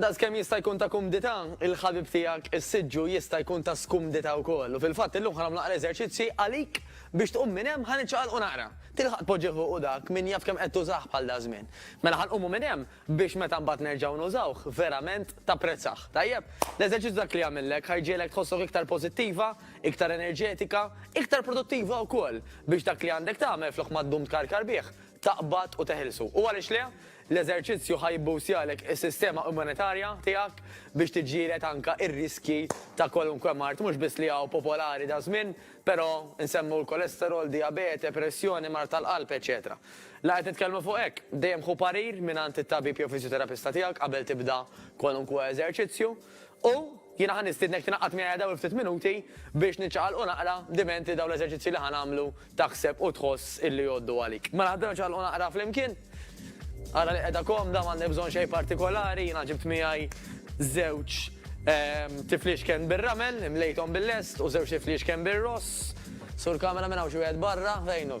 Daqskemm jista' jkun ta' kumdità, il-ħabib tiegħek is-siġġu jista' jkun ta' skumdità wkoll. U fil-fatt illum ħa nagħmlu naqra eżerċizzji għalik biex tqum minn hemm ħa niċċaqalqu naqra. Tilħaq tpoġġih u dak min jaf kemm qed tużah bħal daż-żmien. Mela ħa nqumu minn hemm biex meta mbagħad nerġgħu nużawh verament tapprezzah. Tajjeb? L-eżerċizzju dak li jagħmillek ħa jġiegħlek tħossok iktar pożittiva, iktar enerġetika, iktar produttiva wkoll biex dak li għandek tagħmel flok ma ddum tkarkar bih, taqbad u teħilsu. U għaliex le? L-eżerċizzju ħa jibboostjalek is-sistema immunitarja tiegħek biex tiġġieled anke r-riskji ta' kwalunkwe mard mhux biss li hawn popolari daż-żmien, però nsemmu l-kolesterol, dijabete, pressjoni, mard tal-qalb, eċċetera La qed nitkellmu fuq hekk, dejjem ħu parir mingħand it-tabib jew fiżjoterapista tiegħek qabel tibda kwalunkwe eżerċizzju. U jiena ħa nistiednek tingħaqad miegħi dawn il-ftit minuti biex niċċaqalqu naqra diment li dawn l-eżerċizzji li ħa nagħmlu taħseb u tħoss illi jgħoddu għalik. Mela ħdieru niċċaqalqu naqra flimkien. Ara li qiegħda komda, m'għandek bżonn xejn partikolari, jiena ġibt miegħi żewġ ehm, tifliexken bir-ramel, imlejthom bil-lest u żewġ tifliexken bir-ross. Sur kamera minn hawn xi wieħed barra, fejnu.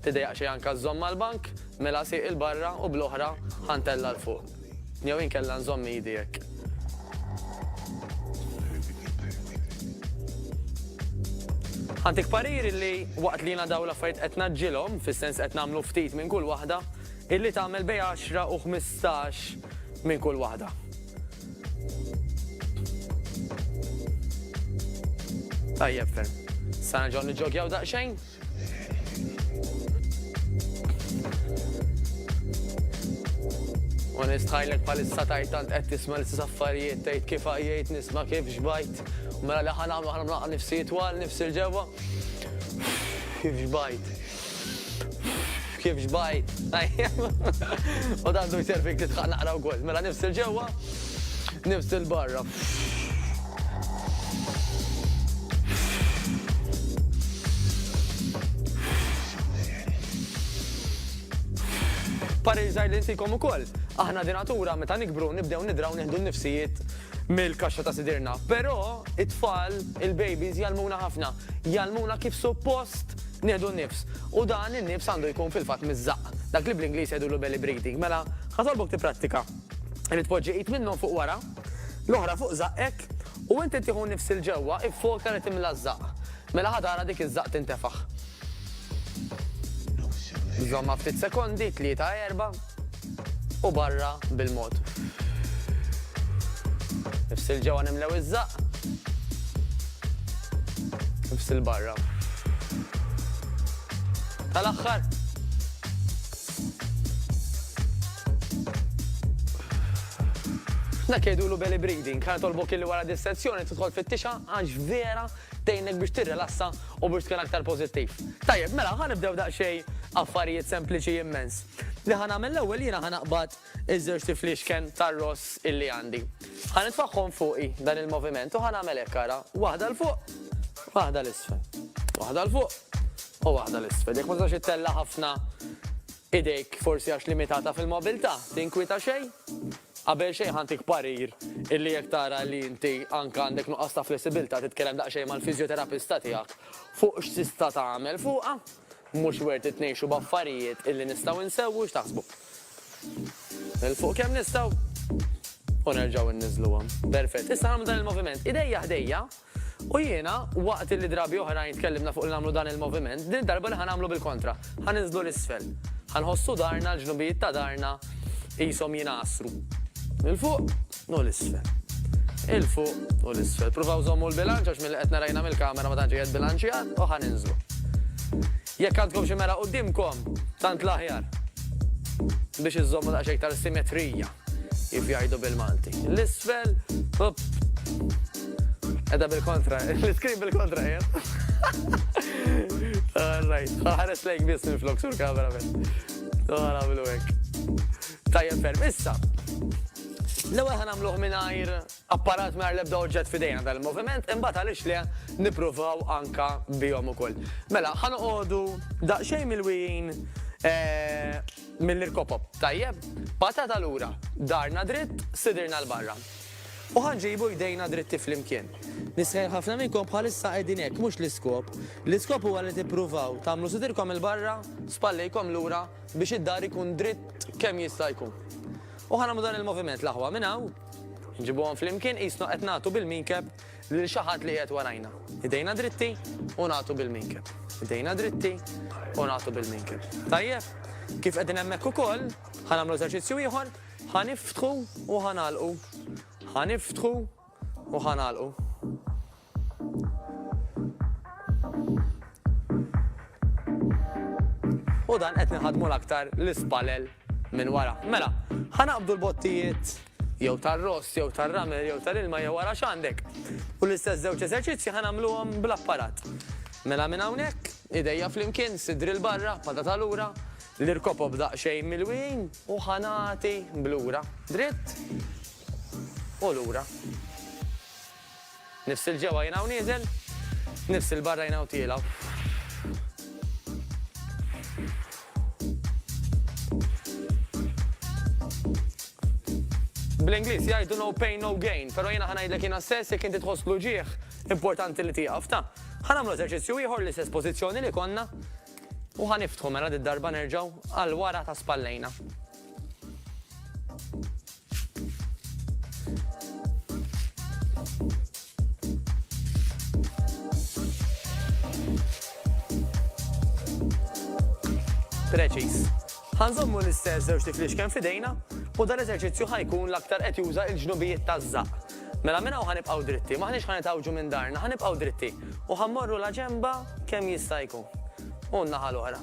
Tiddejjaq xejn anke żżomm mal-bank, mela sieq 'il barra u bl-oħra ħa ntella' 'l fuq. Jew inkella nżomm idi hekk. Ħa ntik parir illi waqt li jiena dawn l-affarijiet qed ngħaġġilhom, fis-sens qed nagħmlu ftit minn kull waħda, illi tagħmel bejn għaxra u ħmistax minn kull waħda. Tajjeb ferm. Sa nerġgħu niġġogjaw daqsxejn? U nistħajlek palissa tajt tant qed tisma' l-istess affarijiet tgħid kif għajjejt nisma' kif xbajt. Mela li ħan għamlu ħan mlaqqa nifsi twal nifsi l-ġewwa. Kif xbajt. Kif xbaj, tajjeb. U dan du jservik titħaq naqra wkoll. Mela nifsil ġewwa, nifsil barra. Pariżaj li intikom ukoll. Aħna dinatura meta nikbru nibdew nidraw nieħdu n-nifsijiet mill-kaxxa ta' sidirna. Però it-tfal, il-babies jgħallmuna ħafna, jgħallmuna kif suppost nieħdu n-nifs. U dan in-nifs għandu jkun fil-fatt miż-żaqq. Dak li bl-Ingliż jgħidulu belly breathing. Mela, ħatolbok tipprattika. Irid tpoġġi id minnhom fuq wara, l-oħra fuq żaqqek, u inti tieħu n-nifs 'il ġewwa, iffoka li timla ż-żaqq. Mela ħa tara dik iż-żaqq tintefaħ. Żommha ftit sekondi, tlieta, erba'. u barra bil-mod. Ifsil ġewwa nimlew iż-żaqq. Ifsil barra. Tal-aħħar. Dak jgħidulu belly breathing, ħana tolbok illi wara dis-sezzjoni tidħol fit-tixa għax vera tgħinek biex tirrelassa u biex tkun aktar pożittiv. Tajjeb, mela ħanibdew daqsxejn affarijiet sempliċi immens. Li ħa nagħmel l-ewwel jiena ħa naqbad iż-żewġ tiflixken tar-ross illi għandi. Ħa nitfaħħom fuqi dan il-moviment u ħa nagħmel hekk ara, waħda l fuq, waħda l isfel. Waħda l fuq u waħda l isfel. Jekk ma tistax ittella ħafna idejk forsi għax limitata fil-mobilità, tinkwita xejn? Qabel xejn ħantik parir illi jekk tara li inti anka għandek nuqqas ta' flessibilità titkellem daqsxejn mal-fiżjoterapista tiegħek fuq x'tista' tagħmel fuqha Mhux worth it ngħixu b'affarijiet illi nistgħu insewwu x'taħsbu? Nilfuq kemm nistgħu u nerġgħu inniżluhom. Perfett. Issa nagħmlu dan il-moviment idejja ħdejja u jiena waqt illi drabi oħrajn tkellimna fuq li nagħmlu dan il-moviment, din id-darba li ħa nagħmlu bil-kontra. Ħa ninżlu 'l isfel. Ħa nħossu darna, l-ġnubijiet ta' darna qishom jingħasru. 'l fuq. u l-isfel. 'il fuq u l-isfel. Pruvaw żommu l-bilanċ għax milli qed nara jiena mill-kamera ma tantx qiegħed bilanċjat u ħa ninżlu. Jekk għandkom xi mera quddiemkom, tant l-aħjar biex iżżommu daqsxejn iktar simetrija kif jgħidu bil-Malti. L-isfel, up. Edha bil-kontra, l-iskrin bil-kontra jem. All right, ħares lejk biss minn flok sur kamera minn. Għara bilu hekk. Tajjeb ferm, issa. L-ewwel ħa nagħmluh mingħajr apparat mingħajr l-ebda oġġett f'idejna dan il-moviment, imbagħad għaliex le nippruvaw anka bihom ukoll. Mela, ħa noqogħdu daqsxejn mill-wijin eh, mill-irkopop. Tajjeb, patata lura, darna dritt, sidirna l-barra. U ħanġibu jdejna dritti fl-imkien. Nisħel ħafna minnkom bħalissa qegħdin hekk mhux l-iskop. L-iskop huwa li tippruvaw tagħmlu sidirkom il-barra, spallejkom lura biex id-daħar ikun dritt kemm jista' jkun. U ħa nagħmlu dan il-moviment l-aħwa minn hawn, nġibuhom flimkien qisna qed nagħtu bil-minkeb lil xi ħadd li qiegħed warajna. Idejna dritti u nagħtu bil-minkeb. Idejna dritti u nagħtu bil-minkeb. Tajjeb? Kif qegħdin hemmhekk ukoll, ħa nagħmlu eżerċizzju ieħor, ħa niftħu u ħa nagħlqu. Ħa niftħu u ħa nagħlqu. U dan qed nħadmu l-aktar l-ispalel minn wara. Mela, ħanaqbdu l-bottijiet jew tar-ross, jew tar-ramel, jew tal-ilma, jew wara x'għandek. U l-istess żewġ eżerċizzji ħanamluhom bl-apparat. Mela minn hawnhekk, idejja flimkien, sidri l-barra, pada ta' lura, l-irkopob daqsxejn milwin u ħanati blura. Dritt u lura. Nifs 'il ġewwa jien hawn nieżel, nifs 'il barra jien hawn tiela'. Bl-Ingliż jgħidu no pain no gain, però jiena ħa ngħidlek jiena stess jekk inti tħoss l-uġigħ importanti li tieqaf ta. Ħa nagħmlu eżerċizzju ieħor l-istess pożizzjoni li konna u ħa niftħu mela darba nerġgħu għal wara ta' spallejna. Preċiż. Ħa nżommu l-istess żewġ tiflix kemm f'idejna u dan l-eżerċizzju ħa jkun l-aktar qed juża l-ġnubijiet taż-żaqq. Mela minn hawn ħa nibqgħu dritti, m'aħniex ħa nitgħawġu minn darna, ħa nibqgħu dritti u ħa mmorru la ġenba kemm jista' jkun u n-naħa l-oħra.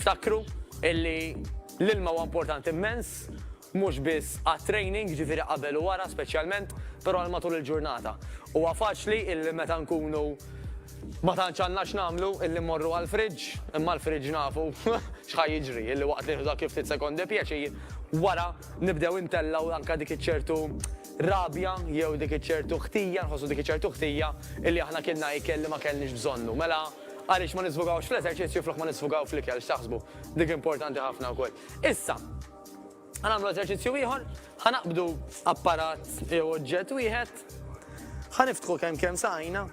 Ftakru illi l-ilma huwa importanti mmens, mhux biss għat-training, jiġifieri qabel u wara speċjalment, però għal matul il-ġurnata. Huwa faċli illi meta nkunu ma tantx għandna x'nagħmlu illi mmorru għall-fridge, imma l-fridge nafu x'ħa jiġri, illi waqt li nieħdu dak il-ftit sekondi pjaċir, wara nibdew intellgħu anke dik iċ-ċertu rabja jew dik iċ-ċertu ħtija, nħossu dik iċ-ċertu ħtija illi aħna kilna ikel li ma kellniex bżonnu. Mela, Għaliex ma nisfogawx fl-eżerċizzju flok ma nisfogaw fl-ikel, x'taħsbu? Dik importanti ħafna wkoll. Issa, ħa nagħmlu eżerċizzju ieħor, ħa naqbdu apparat jew oġġett wieħed, ħa niftħu kemm kemm saqajna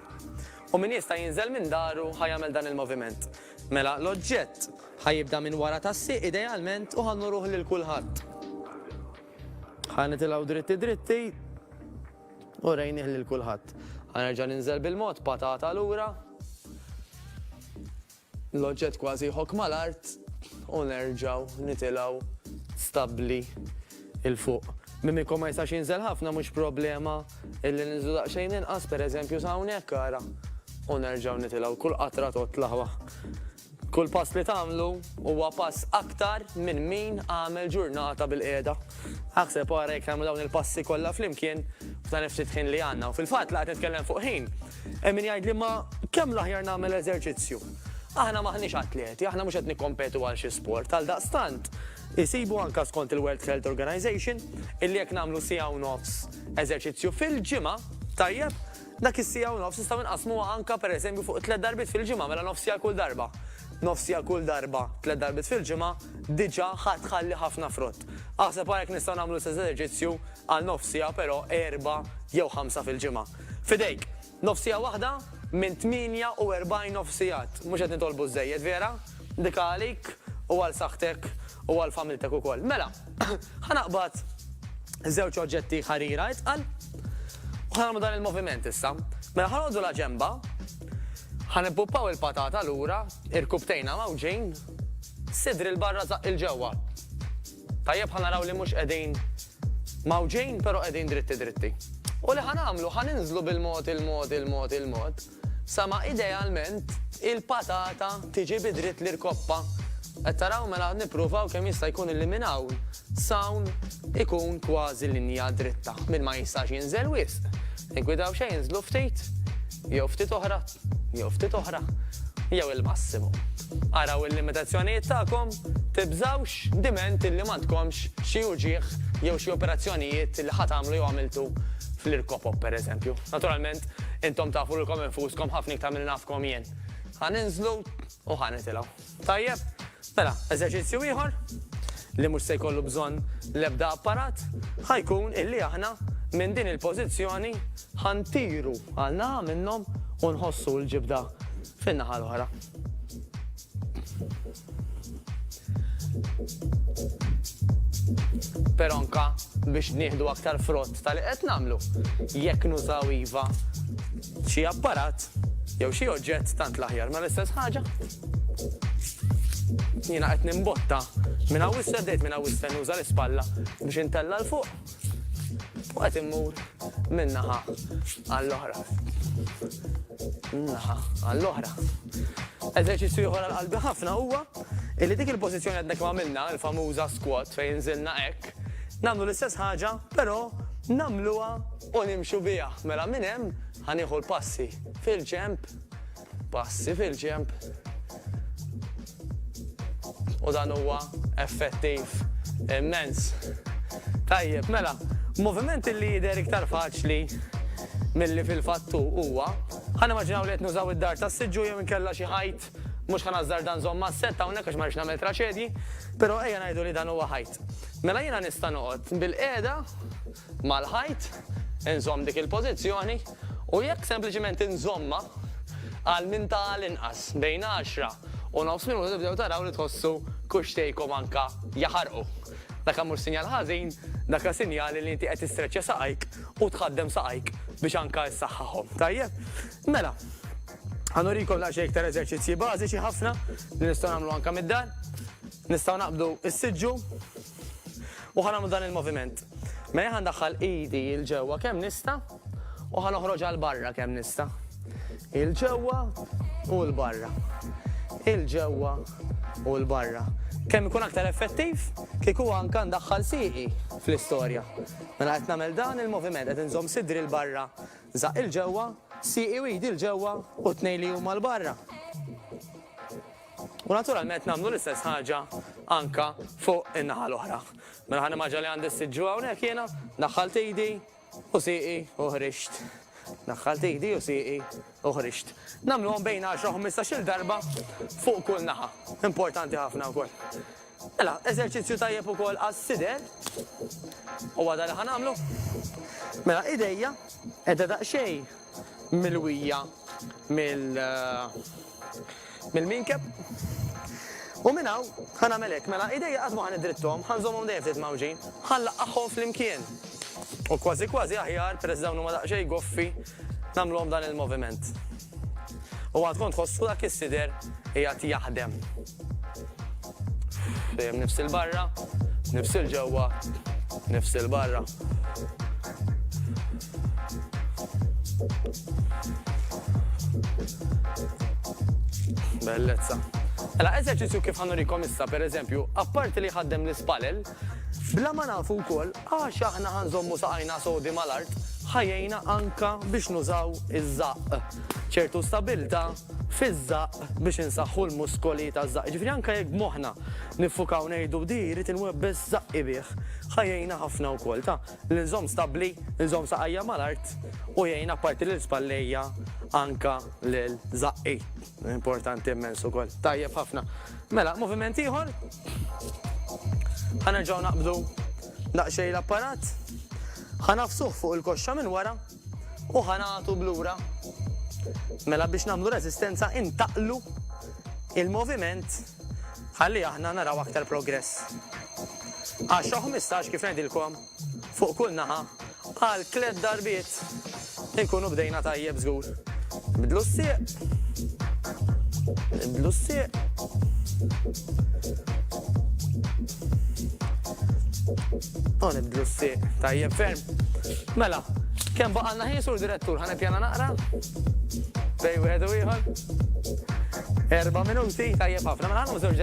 u min jista' jinżel minn daru ħa jagħmel dan il-moviment. Mela l-oġġett ħa jibda minn wara tas-sieq idealment u ħa nurruh lil kulħadd. Ħa nitilgħu dritti dritti. U rejnih lil kulħadd. Ħa nerġa' ninżel bil-mod, patata lura. L-oġġett kważi jħokk mal-art u nerġgħu nitilgħu stabbli 'il fuq. Mimico ma jistax jinżel ħafna mhux problema illi ninżlu daqsxejn inqas, pereżempju sa hawnhekk ara. U nerġgħu nitilgħu. Kull qatra totla' waħ. Kull pass li tagħmlu huwa pass aktar minn min għamel ġurnata bil-qiegħda. Aħseb ara jekk nagħmlu dawn il-passi kollha flimkien f'dan il-ftit ħin li għandna. U fil-fatt laqgħet nitkellem fuq ħin, hemm min jgħidli ma kemm l-aħjar nagħmel eżerċizzju. Aħna m'aħniex atleti, aħna mhux qed nikkompetu għal xi sport, għal daqstant isibu anka skont il-World Health Organization illi jekk nagħmlu siegħa u nofs eżerċizzju fil-ġimgħa tajjeb Dak is-siegħa u nofs nistgħu nqassmuha anke pereżempju fuq tliet darbiet fil-ġimgħa, mela nofsija għal kull darba. Nofsija kull darba tliet darbiet fil-ġimgħa diġà ħa tħalli ħafna frott. Aħseb ara jekk nistgħu nagħmlu l-istess eżerċizzju għal nofsija però erbgħa jew ħamsa fil-ġimgħa. F'idejk! Nofsija waħda minn 48 nofsijat. Mhux qed nitolbu żżejjed, vera? Ndika għalik u għal saħħtek u għal familtek ukoll. Mela! Ħa naqbad żewġ oġġetti ħarira itqal u ħanagħmlu dan il-moviment issa. Mela ħanodu la ġemba, ħanippuppaw il-patata lura, irkubtejna mawġin, sidri l-barra zaq il-ġewwa. Tajjeb ħanaraw li mhux qegħdin mawġin, però qegħdin dritti dritti. U li ħanamlu ħaninżlu bil-mod il-mod il-mod il-mod. Sa ma idealment il-patata tiġi bi dritt l-irkoppa. Qed taraw mela nippruvaw kemm jista' jkun illi minn hawn s'hawn ikun kważi linja dritta. Min ma jistax jinżel wisq, niggwidaw xejn inżlu ftit, jew ftit oħra, jew ftit oħra, jew il-massimu. Araw il-limitazzjonijiet tagħkom, tibżgħux diment illi m'għandkomx xi uġigħ jew xi operazzjonijiet illi ħa tagħmlu jew għamiltu fl-irkopop pereżempju. Naturalment Intom tafu lilkom infuskom ħafna iktar milli nafkom jien. Ħa ninżlu u ħa nitilgħu. Tajjeb? Mela, eżerċizzju ieħor li mhux se jkollu bżonn l-ebda apparat ħa jkun illi aħna minn din il-pożizzjoni ħa ntiru għal naħa minnhom u nħossu l-ġibda fin-naħa l-oħra. Però anke biex nieħdu aktar frott ta' li qed nagħmlu, jekk nużaw iva xi apparat jew xi oġġett tant l-aħjar. Ma l-istess ħaġa? Jiena qed nimbotta minn hawn 'issa bdejt minn hawn 'issa nuża l-ispalla biex intella' 'l fuq. U għat immur minnaħa għall-oħra. Minnaħa għall-oħra. Eżerċizzju ieħor għal-qalbi ħafna huwa illi dik il-pożizzjoni għadna kemm għamilna, il-famuża squat fejn nżilna hekk, nagħmlu l-istess ħaġa, però nagħmluha u nimxu biha. Mela minn hemm ħanieħu l-passi fil-ġemp Passi fil-ġenb. U dan huwa effettiv immens. Tajjeb, mela, moviment li jidher iktar faċli milli fil-fatt hu huwa, ħa nimmaġinaw li qed nużaw id-dar tas-siġġu jew inkella xi ħajt, mhux ħa nażżarda nżomm mas-sett hawnhekk għax ma rridx nagħmel traċedji, però ejja ngħidu li dan huwa ħajt. Mela jiena nista' noqgħod bil-qiegħda mal-ħajt, inżomm dik il-pożizzjoni u jekk sempliċiment inżommha għal minn ta' għal inqas bejn għaxra u nofs minuta tibdew taraw li tħossu kuxxtejkom anke jaħarqu. Daka mhux sinjal ħażin, daka sinjali li inti qed tistreċċja saqajk u tħaddem saqajk biex anke issaħħaħhom. Tajjeb? Mela, ħa nurikom daqsxejn iktar eżerċizzji bażiċi ħafna li nistgħu nagħmlu anke mid-dar. Nistgħu naqbdu s-siġġu U ħa nagħmlu dan il-moviment. Mela jien ħa ndaħħal idi il ġewwa kemm nista' u ħa noħroġ għal barra kemm nista'. Il ġewwa u l barra. Il ġewwa u l barra kemm ikun aktar effettiv kieku anka ndaħħal sieqi fl-istorja. Mela qed nagħmel dan il-moviment qed inżomm sidri l barra żaq il ġewwa, sieqi u jdi l ġewwa u tnej li huma l barra. U naturalment nagħmlu l-istess ħaġa anke fuq in-naħa l-oħra. Mela ħa nimmaġina li għandi s-sitt ġuha hawnhekk jiena, daħħalt idi u sieqi u ħriġt. Daħħalt idi u sieqi u ħriġt. Nagħmluhom bejn għaxra u ħmistax-il darba fuq kull naħa. Importanti ħafna wkoll. Mela, eżerċizzju tajjeb ukoll għas-sider. Huwa dan li ħa nagħmlu. Mela, idejja qiegħda daqsxejn milwija mill mill-minkeb. U minn hawn ħa nagħmel hekk. Mela, idejja qatt ma ħa niddritthom, ħa nżommhom dejjem ftit mgħawġin. Ħa nlaqqagħhom flimkien. U kważi kważi aħjar, peress dawn huma daqsxejn goffi, nagħmluhom dan il-moviment. U għandkom tħossu dak is-sider qiegħed jaħdem. Dejjem nifsil barra, nifsil ġewwa, nifsil barra. Bellezza. Ela, eżerċizzju kif ħanurikom issa, per eżempju, apparti li ħaddem l-ispalel, bla ma nafu wkoll għax aħna ħanżommu saqajna sodi mal-art, ħajjejna anka biex nużaw iż-żaqq. ċertu stabilta fiż-żaqq biex insaħħu l-muskoli taż-żaqq. Jiġifieri anke jekk b'moħħna niffukaw ngħidu di jrid inwebbes żaqqi bih, ħa jgħinna ħafna wkoll ta' li nżomm stabbli, nżomm saqajja mal-art u jgħin apparti lil spallejja anke lil żaqqi. Importanti immens ukoll. Tajjeb ħafna. Mela, moviment ieħor. Ħa nerġgħu naqbdu daqsxejn l-apparat. Ħa nafsuh fuq il-koxxa minn wara. U ħa nagħtu b'lura. Mela biex nagħmlu reżistenza intaqlu il-moviment ħalli aħna naraw aktar progress. 10-15 kif ngħidilkom fuq kull naħa għal tliet darbiet inkunu bdejna tajjeb żgur. Bidlu s-sieq. Bidlu s-sieq. Oh, nibdlu s-siq. Tajjeb ferm. Mela, kem baqalna ħin sur direttur, ħana pjana naqra? Bej, wieħed u ieħor. Erba minuti, tajjeb ħafna. Mela għandu żewġ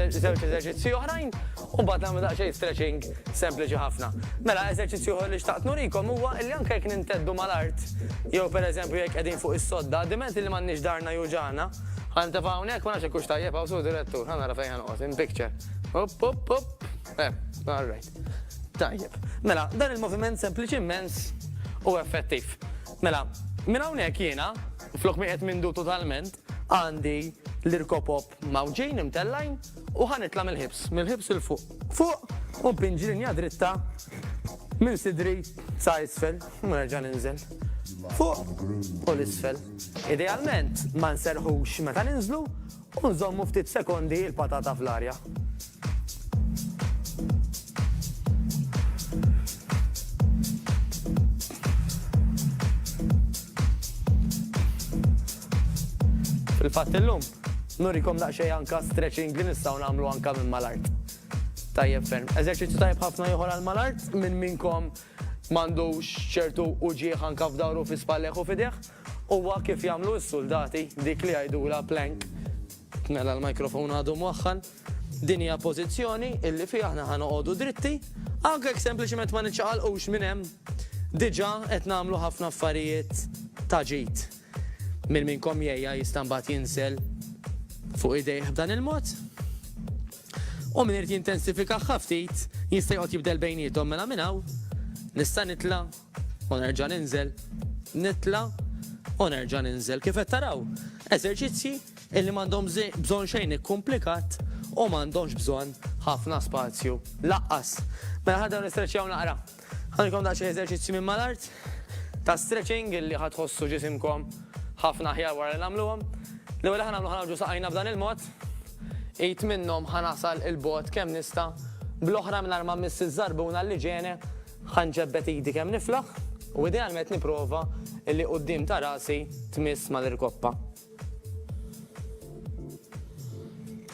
eżerċizzji oħrajn, u mbagħad nagħmlu daqsxejn stretching sempliċi ħafna. Mela eżerċizzju li xtaqt nurikom huwa li anke jekk ninteddu mal-art, jew pereżempju jekk qegħdin fuq is-sodda, diment li m'għandniex darna juġana, ħan tefgħu hawnhekk ma nafx hekk hux tajjeb hawn sur direttur, ħana rafejn ħanqos, in picture. Up, up, up. Eh, all right. Tajjeb. Mela, dan il-moviment sempliċiment u effettiv. Mela, minn hawnhekk jiena, flok mi qed mindu totalment, għandi l-irkopop mawġin imtellajn u ħanitla mill-ħibs, mill-ħibs il-fuq. Fuq u pinġi linja dritta minn sidri sa' isfel, nerġa' ninżel. Fuq u l-isfel. Idealment ma nserħux meta ninżlu U nżommu ftit sekondi il-patata fl-arja. Fil-fatt illum, nurikom daqsxejn anka stretching li nistgħu nagħmlu anka minn mal-art. Tajjeb ferm. Eżerċizzju tajjeb ħafna ieħor għal mal-art, minn minnkom M'għandux ċertu uġigħ anka f'dahru, fi spallejh u f'idejh? Huwa kif jagħmlu s-suldati, dik li jgħidulha plank. Mela l-microphone għadu mwaħħal. Din hija pożizzjoni illi fiha aħna ħa noqogħdu dritti, anke jekk sempliċement ma niċċaqalqux minn hemm. Diġà qed nagħmlu ħafna affarijiet ta' ġid. Min minnkom jgħiha jista' mbagħad jinsel fuq idejh b'dan il-mod? U min irid jintensifikaha ftit jista' joqgħod jibdel bejniethom mela minn hawn nista' nitla' u nerġa' ninżel, nitla' u nerġa' ninżel. Kif qed taraw? Eżerċizzji illi m'għandhom bżonn xejn ikkumplikat u m'għandhomx bżonn ħafna spazju laqqas. Mela ħa dawn nistreċjaw naqra. Ħanilkom daqsxejn eżerċizzji minn mal-art ta' stretching li ħa tħossu ġisimkom ħafna aħjar wara li nagħmluhom. L-ewwel li ħa nagħmlu ħa nagħmlu saqajna b'dan il-mod. Id minnhom ħa nasal 'il bogħod kemm nista', bl-oħra mingħajr ma mmiss iż-żarbuna li ġeni, ħa nġebbed idi kemm niflaħ u idealment nipprova li quddiem ta' rasi tmiss mal-irkoppa.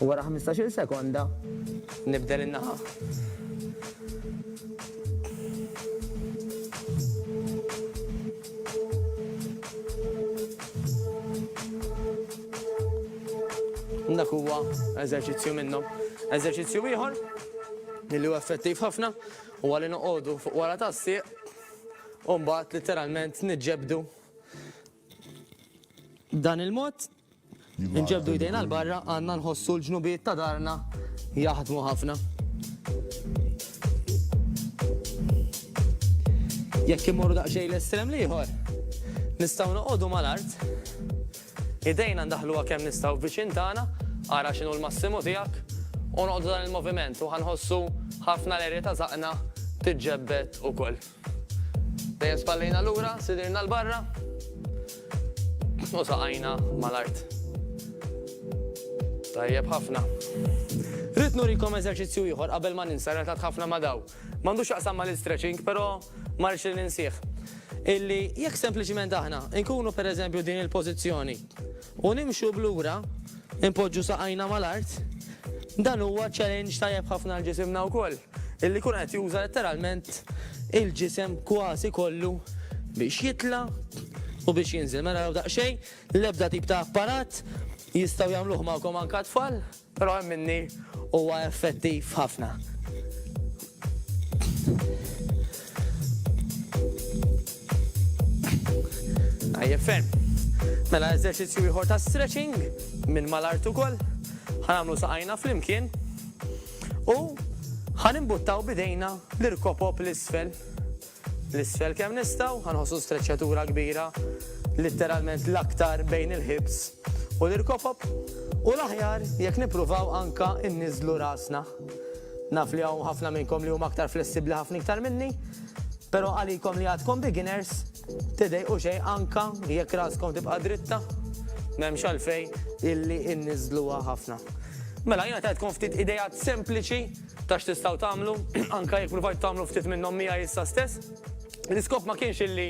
U wara ħmistax-il sekonda nibdel in-naħa. Dak huwa eżerċizzju minnhom. Eżerċizzju ieħor li huwa effettiv ħafna u għalli noqogħdu fuq wara tas-sieq u mbagħad literalment niġġebdu B'dan il-mod, inġebdu jdejna l-barra għandna nħossu l-ġnubijiet ta' darna jaħdmu ħafna. Jekk immorru daqsxejn l-estrem l-ieħor, nistgħu noqogħdu mal-art, idejna ndaħluha kemm nistgħu viċin tagħna, ara x'inhu l-massimu tiegħek, u noqogħdu dan il-moviment u ħanħossu ħafna l-erja ta' żaqna tiġġebbed ukoll. Dejjem spallejna lura, sidirna l-barra u saqajna mal-art. Tajjeb ħafna. Rrid nurikom eżerċizzju ieħor qabel ma ninsa relatat ħafna ma' daw. M'għandux x'jaqsam mal-istretching, però ma rridx li ninsih. Illi jekk sempliċiment aħna nkunu pereżempju din il-pożizzjoni u nimxu b'lura, inpoġġu saqajna mal-art, dan huwa challenge tajjeb ħafna għal ġisimna wkoll. Illi jkun qed juża letteralment il-ġisem kważi kollu biex jitla' u biex jinżel. Mela raw daqsxejn, l-ebda tip ta' apparat, jistgħu jagħmluh magħkom anke t-tfal, però hemm minni huwa effettiv ħafna. Tajjeb ferm. Mela eżerċizzju ieħor ta' stretching minn mal-art ukoll. Ħa nagħmlu saqajna flimkien. U ħa nimbuttaw b'idejna l-irkopop 'l isfel. L isfel kemm nistgħu, ħa nħossu streċċatura kbira, litteralment l-aktar bejn il-ħibs u l-irkopop. U l-aħjar jekk nippruvaw anka nniżżlu rasna. Naf li hawn ħafna minnkom li huma aktar flessibbli ħafna iktar minni, pero għalikom li għadkom beginners, Tidejqu xejn anka jekk raskom tibqa' dritta, m'hemmx għalfejn illi inniżżluha ħafna. Mela jiena tajtkom ftit ideat sempliċi ta' x'tistgħu tagħmlu, anka jekk pruvajtu tagħmlu ftit minnhom miegħi issa stess. L-iskop ma kienx illi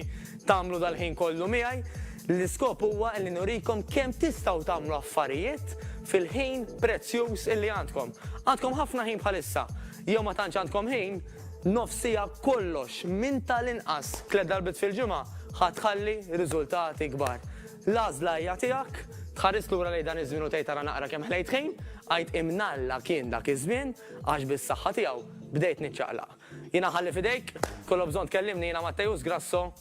tagħmlu dal-ħin kollu miegħi, l-iskop huwa illi nurikom kemm tistgħu tagħmlu affarijiet fil-ħin prezzjuż illi għandkom. Għandkom ħafna ħin bħalissa, jew ma tantx għandkom ħin, Nofs siegħa kollox, minn tal-inqas tliet darbiet fil-ġimgħa, ħa tħalli riżultati kbar. L-għażla hija tiegħek, tħares lura lejn dan iż-żmien u tgħid ara naqra kemm ħlejt ħin, għid imnalla kien dak iż-żmien għax bis-saħħa tiegħu bdejt niċċaqlaq. Jiena nħalli f'idejk, tkollok bżonn tkellimni jiena Matteus Grasso.